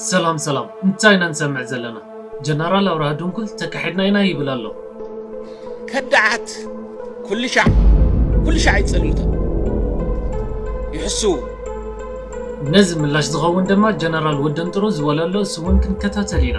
ሰላም ሰላም እንታይ ኢና ንሰምዕ ዘለና ጀነራል ኣብርሃ ድንኩል ተካሒድና ኢና ይብል ኣሎ። ከዳዓት ኩልሻዕ ኩልሻዕ ይጽልምቶም ይሕስዉ። ነዚ ምላሽ ዝኸውን ድማ ጀነራል ወደንጥሩ ዝበሎ ኣሎ እሱ ውን ክንከታተል ኢና።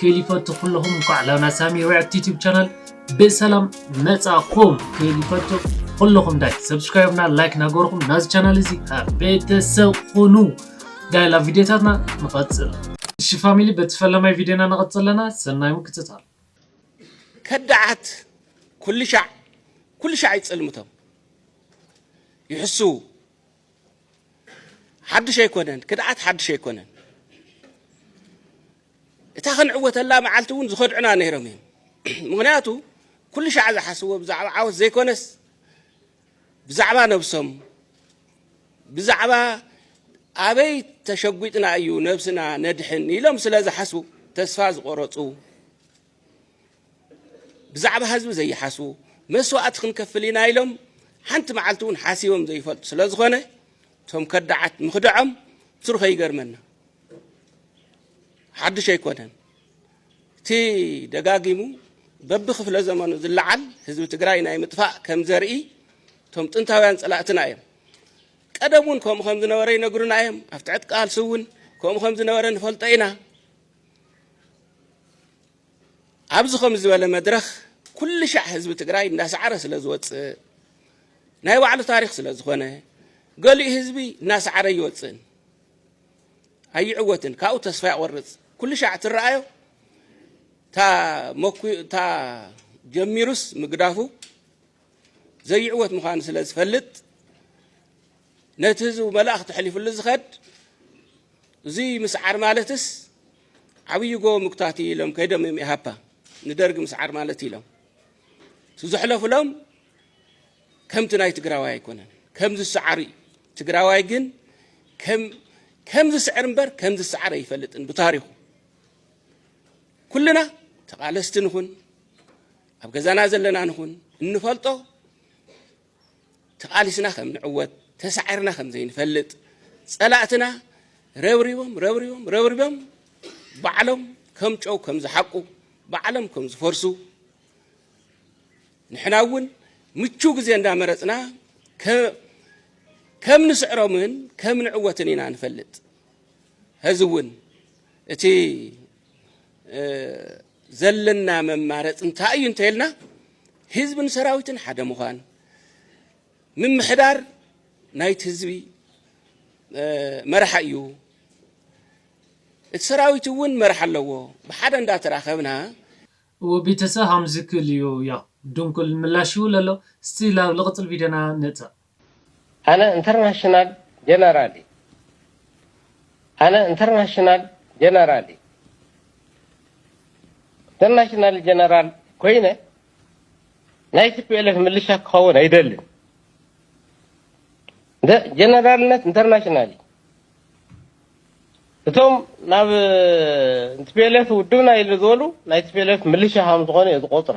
ከይሊፈቱ ኩለኹም እንኳዕ ላና ሳሚ ሪያክት ዩቲብ ቻናል ብሰላም መጻኹም ከይሊፈቱ ኩለኹም ዳይ ሰብስክራይብና ላይክ ናገርኹም ናዚ ቻናል እዚ ቤተሰብ ኩኑ ዳይላ ቪድዮታትና ንቐጽል እሺ ፋሚሊ በቲ ፈለማይ ቪድዮና ንቐጽል ኣለና ሰናይ ምክትታል ከዳዓት ኩልሻዕ ኩልሻዕ ይጽልምቶም ይሕስዉ ሓድሽ ኣይኮነን ክድዓት ሓድሽ ኣይኮነን እታ ክንዕወተላ መዓልቲ እውን ዝኸድዑና ነይሮም እዮም። ምክንያቱ ኩሉ ሻዕ ዝሓስብዎ ብዛዕባ ዓወት ዘይኮነስ ብዛዕባ ነብሶም ብዛዕባ ኣበይ ተሸጒጥና እዩ ነብስና ነድሕን ኢሎም ስለ ዝሓስቡ ተስፋ ዝቆረፁ ብዛዕባ ህዝቢ ዘይሓስቡ መስዋእቲ ክንከፍል ኢና ኢሎም ሓንቲ መዓልቲ እውን ሓሲቦም ዘይፈልጡ ስለ ዝኾነ እቶም ከዳዓት ምኽድዖም ትሩ ከይገርመና ሓዱሽ ኣይኮነን። እቲ ደጋጊሙ በቢ ክፍለ ዘመኑ ዝለዓል ህዝቢ ትግራይ ናይ ምጥፋእ ከም ዘርኢ እቶም ጥንታውያን ፀላእትና እዮም። ቀደም እውን ከምኡ ከም ዝነበረ ይነግሩና እዮም። ኣብ ትዕት ቃልሲ እውን ከምኡ ከም ዝነበረ ንፈልጦ ኢና። ኣብዚ ከምዚ ዝበለ መድረኽ ኩልሻዕ ህዝቢ ትግራይ እንዳሰዓረ ስለ ዝወፅእ ናይ ባዕሉ ታሪኽ ስለ ዝኾነ ገሊኡ ህዝቢ እናሰዓረ ይወፅእን ኣይዕወትን ካብኡ ተስፋ ያቆርፅ ኩልሻዕ ትረኣዮ እታ ጀሚሩስ ምግዳፉ ዘይዕወት ምዃኑ ስለ ዝፈልጥ ነቲ ህዝቡ መልእኽቲ ሕሊፍሉ ዝኸድ እዙይ ምስዓር ማለትስ ዓብይ ጎቦ ምጉታት እዩ ኢሎም ከይዶም እዮም ኢሃፓ ንደርጊ ምስዓር ማለት እዩ ኢሎም እቲ ዘሕለፉሎም ከምቲ ናይ ትግራዋይ ኣይኮነን ከም ዝሰዓሩ እዩ ትግራዋይ ግን ከም ዝስዕር እምበር ከም ዝሰዓር ኣይፈልጥን ብታሪኹ ኩልና ተቓለስቲ ንኹን ኣብ ገዛና ዘለና ንኹን እንፈልጦ ተቓሊስና ከም ንዕወት ተሳዒርና ከም ዘይንፈልጥ ጸላእትና ረብሪቦም ረብሪቦም ረብሪቦም ባዕሎም ከም ጨው ከም ዝሓቁ ባዕሎም ከም ዝፈርሱ ንሕና እውን ምቹ ግዜ እንዳመረፅና ከም ንስዕሮምን ከም ንዕወትን ኢና ንፈልጥ ሕዚ እውን እቲ ዘለና መማረፂ እንታይ እዩ እንተይልና ህዝብን ሰራዊትን ሓደ ምዃን ምምሕዳር ናይቲ ህዝቢ መርሓ እዩ እቲ ሰራዊት እውን መርሓ ኣለዎ ብሓደ እንዳተራኸብና እወ ቤተሰብ ሃምዚ ክል እዩ ያው ድንኩል ምላሽ ይውለሎ እስቲ ላብ ልቅፅል ቪድዮና ንእተው። ኣነ እንተርናሽናል ጀነራል እየ ኣነ እንተርናሽናል ጀነራል እየ እንተርናሽናል ጀነራል ኮይነ ናይ ቲፒኤልኤፍ ምልሻ ክኸውን ኣይደልን ጀነራልነት እንተርናሽናል እዩ እቶም ናብ ቲፒኤልኤፍ ውድብና ኢሉ ዝበሉ ናይ ቲፒኤልኤፍ ምልሻ ከም ዝኾኑ እየ ዝቆፅሮ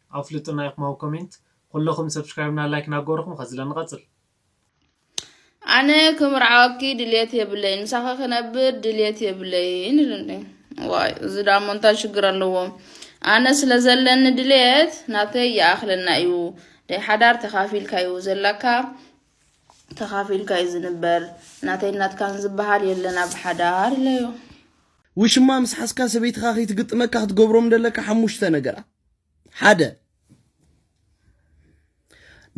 ኣፍልጡና ኢኩም ኣብ ኮሜንት። ኩለኩም ሰብስክራይብ እና ላይክ ናገበርኩም ከዝለ ንቀጽል። ኣነ ክምርዓወኪ ድልየት የብለይን ምሳኺ ክነብር ድልየት የብለይን ኢሉ እንዴ ዋይ እዚ ዳሞ እንታይ ሽግር ኣለዎ ኣነ ስለ ዘለኒ ድልየት ናተይ ይኣኽለና እዩ ናይ ሓዳር ተኻፊልካ እዩ ዘለካ ተኻፊልካ እዩ ዝንበር ናተይ ናትካን ዝበሃል የለን ኣብ ሓዳር ኢለዮ ውሽማ ምስ ሓዝካ ሰበይትኻ ከይትግጥመካ ክትገብሮም ደለካ ሓሙሽተ ነገራት ሓደ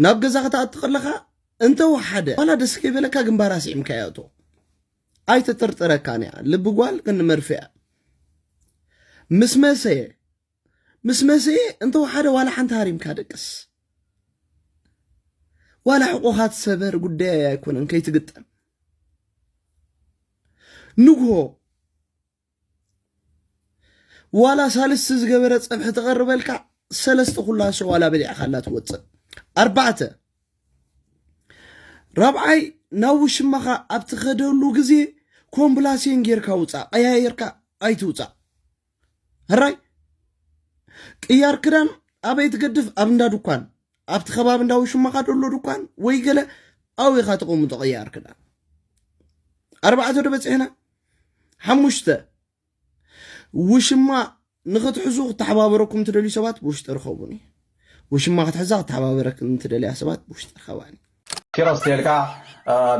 ናብ ገዛ ክትኣቱ ከለኻ እንተወሓደ ዋላ ደስ ከይበለካ ግንባር ኣስዒምካ እያ እቶ ኣይተጠርጥረካን እያ ልቢ ጓል ቅኒ መርፌ እያ ምስ መሰየ ምስ መሰየ እንተወሓደ ዋላ ሓንቲ ሃሪምካ ደቅስ ዋላ ሕቆኻ ትሰበር ጉዳይ ኣይኮነን ከይትግጠም ንግሆ ዋላ ሳልስቲ ዝገበረ ፀብሒ ተቐርበልካ ሰለስተ ኩላሶ ዋላ በሊዕካላ ትወፅእ ኣርባዕተ ራብዓይ ናብ ውሽማኻ ኣብ ትኸደሉ ግዜ ኮምፕላሴን ጌርካ ውፃእ ቀያየርካ ኣይትውፃእ ህራይ ቅያር ክዳን ኣበይ ትገድፍ ኣብ እንዳ ድኳን ኣብቲ ከባቢ እንዳ ውሽማኻ ደሎ ድኳን ወይ ገለ ኣውኻ ተቐምጦ ቅያር ክዳን ኣርባዕተ ዶ በፂሕና ሓሙሽተ፣ ውሽማ ንኽትሕዙ ክተሓባበረኩም ትደልዩ ሰባት ብውሽጢ ርኸቡኒ። ውሽማ ክትሕዛ ክተሓባበረክን ትደልያ ሰባት ብውሽጢ ርኸባኒ። ኪሮስ ቴልካ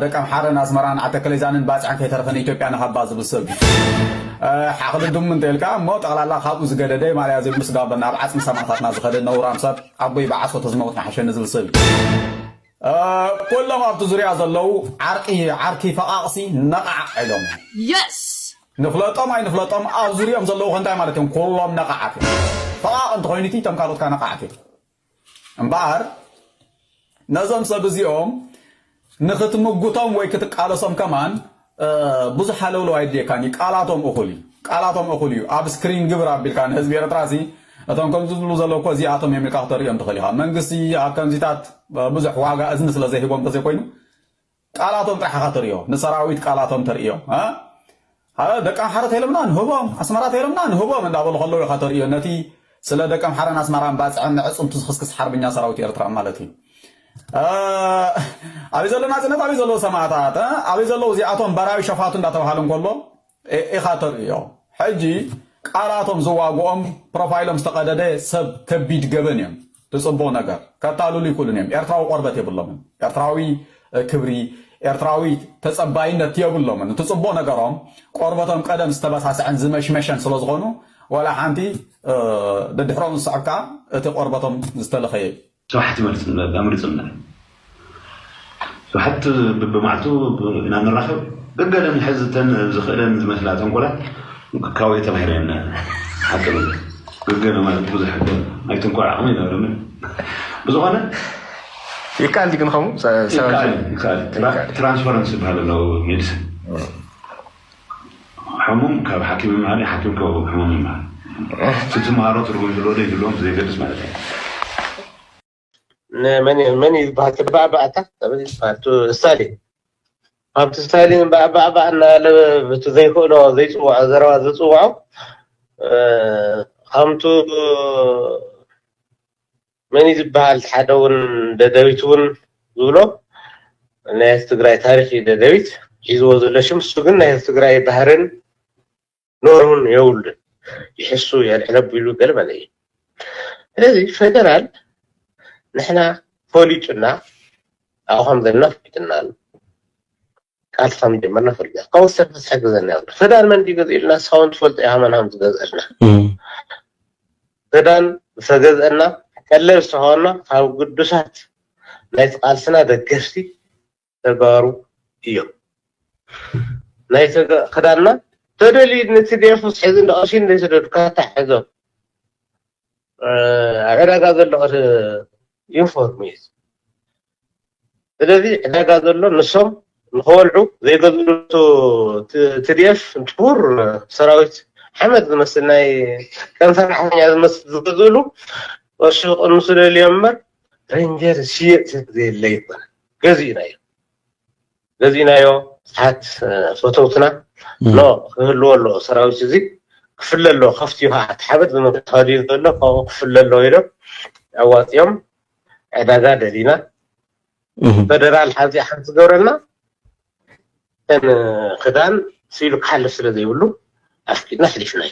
ደቂ ኣምሓረን ኣስመራን ዓተከሌዛንን ባፅዕን ከይተረፈ ንኢትዮጵያ ንሃባ ዝብል ሰብ ሓኽሊ ድሙ እንተልካ እሞ ጠቕላላ ካብኡ ዝገደደ ማልያ ዘይብሉስ ጋቦን ናብ ዓፅሚ ሰማእታትና ዝኸደ ነውራም ሰብ ኣቦይ ብዓሶ ተዝመውት ንሓሸኒ ዝብል ሰብ ኩሎም ኣብቲ ዙርያ ዘለዉ ዓርቂ ዓርኪ ፈቓቕሲ ነቓዕ ኢሎም እዮም። Yes! ንፍለጦም ኣይንፍለጦም ኣብ ዙርይኦም ዘለዉ ከ እንታይ ማለት እዮም? ኩሎም ነቓዓት እዮም። ፈቓቕ እንተኾይኑቲ እቶም ካልኦት ከኣ ነቓዓት እዮም። እምበኣር ነዞም ሰብ እዚኦም ንኽትምጉቶም ወይ ክትቃለሶም ከማን ብዙሕ ሃለውለው ኣይድልየካን እዩ ቃላቶም እኹል እዩ ቃላቶም እኹል እዩ ኣብ ስክሪን ግብር ኣቢልካ ንህዝቢ ኤርትራ ሲ እቶም ከምዚ ዝብሉ ዘለዉ እኮ እዚኣቶም እዮም ኢልካ ክተርእዮም ትኽእል ኢኻ መንግስቲ ኣብ ከምዚታት ብዙሕ ዋጋ እዝኒ ስለ ዘይህቦም ተዘይኮይኑ ቃላቶም ጥራሕ ኢኻ ተርእዮ ንሰራዊት ቃላቶም ተርእዮ ደቂ ኣምሓረ ተይሎምና ንህቦም ኣስመራ ተይሎምና ንህቦም እንዳበሉ ከለዉ ኢኻ ተርእዮ ነቲ ስለ ደቀምሓረን ኣስመራን ባጽዕን ነዕጽምቱ ዝኽስክስ ሓርብኛ ሰራዊት ኤርትራ ማለት እዩ ኣበይ ዘሎ ናጽነት ኣበይ ዘለዉ ሰማእታት ኣበይ ዘለዉ እዚኣቶም በራዩ ሸፋቱ እንዳተባሃሉ እንከሎ ኢኻ ተርእዮ ሕጂ ቃላቶም ዝዋግኦም ፕሮፋይሎም ዝተቐደደ ሰብ ከቢድ ገበን እዮም ብጽቡቕ ነገር ከታልሉ ይክእሉን እዮም ኤርትራዊ ቆርበት የብሎምን ኤርትራዊ ክብሪ ኤርትራዊ ተጸባይነት የብሎምን እቲ ጽቡቕ ነገሮም ቆርበቶም ቀደም ዝተበሳሰዐን ዝመሽመሸን ስለ ዝኾኑ ዋላ ሓንቲ ደድሕሮም ዝስዕብ ከኣ እቲ ቆርበቶም ዝተለኸየ እዩ። ስብሓት ይመልስልና ኣምልጡልና። ብሓቂ ብብማዕልቱ ኢና ንራኸብ ገገለ ንሕዝ እተን ዝኽእለን ዝመስላ ተንኮላት ካወይ ተማሂረን ሓቂ ብል ገገለ ማለት ብዙሕ ናይ ትንኮል ዓቕሚ ይነብረምን ብዝኾነ ይከኣል ድዩ ግን ከምኡ ትራንስፈረንስ ዝበሃል ኣሎ ሜዲሲን ሕሙም ካብ ሓኪም ይምሃር ሓኪም ካብ ሕሙም ይምሃር እቲ ትምሃሮ ትርጉም ይህልዎ ዶ ይህልዎም ዘይገድስ ማለት እዩ መን መን እዩ ዝበሃል ተባዕባዕታ ተበል ዝበሃል እቲ ስታሊን ኣብቲ ስታሊን ባዕባዕባዕ እናበለ እቲ ዘይክእሎ ዘይፅዋዖ ዘረባ ዝፅዋዖ ከምቱ መን እዩ ዝበሃል ሓደ እውን ደደቢት እውን ዝብሎ ናይ ትግራይ ታሪክ እዩ ደደቢት ሒዝዎ ዘሎ ሽም እሱ ግን ናይ ትግራይ ባህርን ኖርውን የብሉን ይሕሱ የልዕል ኣቢሉ ገለ መለ እዩ ስለዚ ፈደራል ንሕና ፈሊጡና ኣብኡ ከም ዘለና ፈሊጥና ኣሎ ቃልሲ ከም ጀመርና ፈሊጥና ካብኡ ዝተርፈ ዝሕግዘና የብሉ ፈዳን መን ድዩ ገዚእልና ንስኻ እውን ትፈልጦ ኢኻ መን ከም ዝገዝአልና ፈዳን ዝተገዝአና ቀለብ ዝተኸበና ካብ ግዱሳት ናይቲ ቃልስና ደገፍቲ ተጋሩ እዮም ናይ ተጋ ክዳና ተደልዩ ንትዴፍ ምስ ሕዚ ንቐሺ እንደ ስደድካ ታሕዞ ዕዳጋ ዘሎ ዩኒፎርም እዩ ስለዚ ዕዳጋ ዘሎ ንሶም ንኸወልዑ ዘይገዝሉ ትድኤፍ እንትኩር ሰራዊት ሓመድ ዝመስል ናይ ከም ሰራሕተኛ ዝመስል ዝገዝእሉ ቅርሺ ክቕንሱ ደልዮም እምበር ረንጀር ዝሽየጥ ዘየለ ይኮነ ገዚእናዮ ገዚእናዮ ብዙሓት ፈተውትና ኖ ክህልዎ ኣለዎ ሰራዊት እዚ ክፍለ ኣለዎ ከፍቲ እዩ ከዓ እቲ ሓበጥ ብምካዱ እዩ ዘሎ ካብኡ ክፍለ ኣለዎ ኢሎም ኣዋፂኦም ዕዳጋ ደሊና ፈደራል ሓዚ ሓንቲ ዝገብረና እተን ክዳን ስኢሉ ክሓልፍ ስለ ዘይብሉ ኣፍቂድና ኣሕሊፍናዮ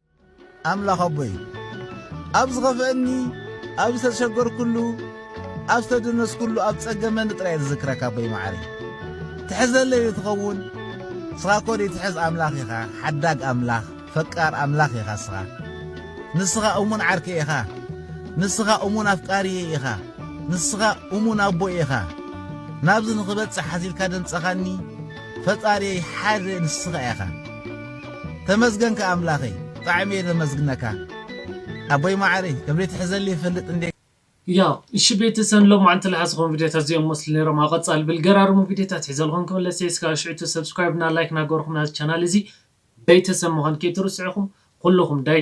ኣምላኽ ኣቦይ ኣብ ዝኸፍኣኒ ኣብ ዝተሸገርኩሉ ኣብ ዝተደነስኩሉ ኣብ ጸገመኒ ጥራይ እየ ዝዝክረካ ኣቦይ መዓረይ ትሕዘለይ ዶ ትኸውን ንስኻ እኮ ዘይትሕዝ ኣምላኽ ኢኻ ሓዳግ ኣምላኽ ፈቃር ኣምላኽ ኢኻ ንስኻ ንስኻ እሙን ዓርከይ ኢኻ ንስኻ እሙን ኣፍቃሪየይ ኢኻ ንስኻ እሙን ኣቦይ ኢኻ ናብዚ ንኽበጽሕ ሓዚልካ ደንጸኻኒ ፈጣሪየይ ሓደ ንስኻ ኢኻ ተመስገንካ ኣምላኸይ ብጣዕሚ እየ ዘመስግነካ ኣቦይ ማዓረይ ከም ዘይትሕዘለይ ይፈልጥ እንዴ። ያው እሺ ቤተሰብ ሎማዓንቲ ልሓዝኹም ቪድዮታት እዚኦም መስሉ ነይሮም ኣብ ቐፃሊ ብልገራርሙ ቪድዮታት ሒዘልኹም ክምለስ እየ እስካብ ሽዕቱ ሰብስክራይብ እና ላይክ ናገበርኹም ናዚ ቻናል እዚ ቤተሰብ ምዃን ከይትርስዑ ኢኹም ኹሉኹም ዳይ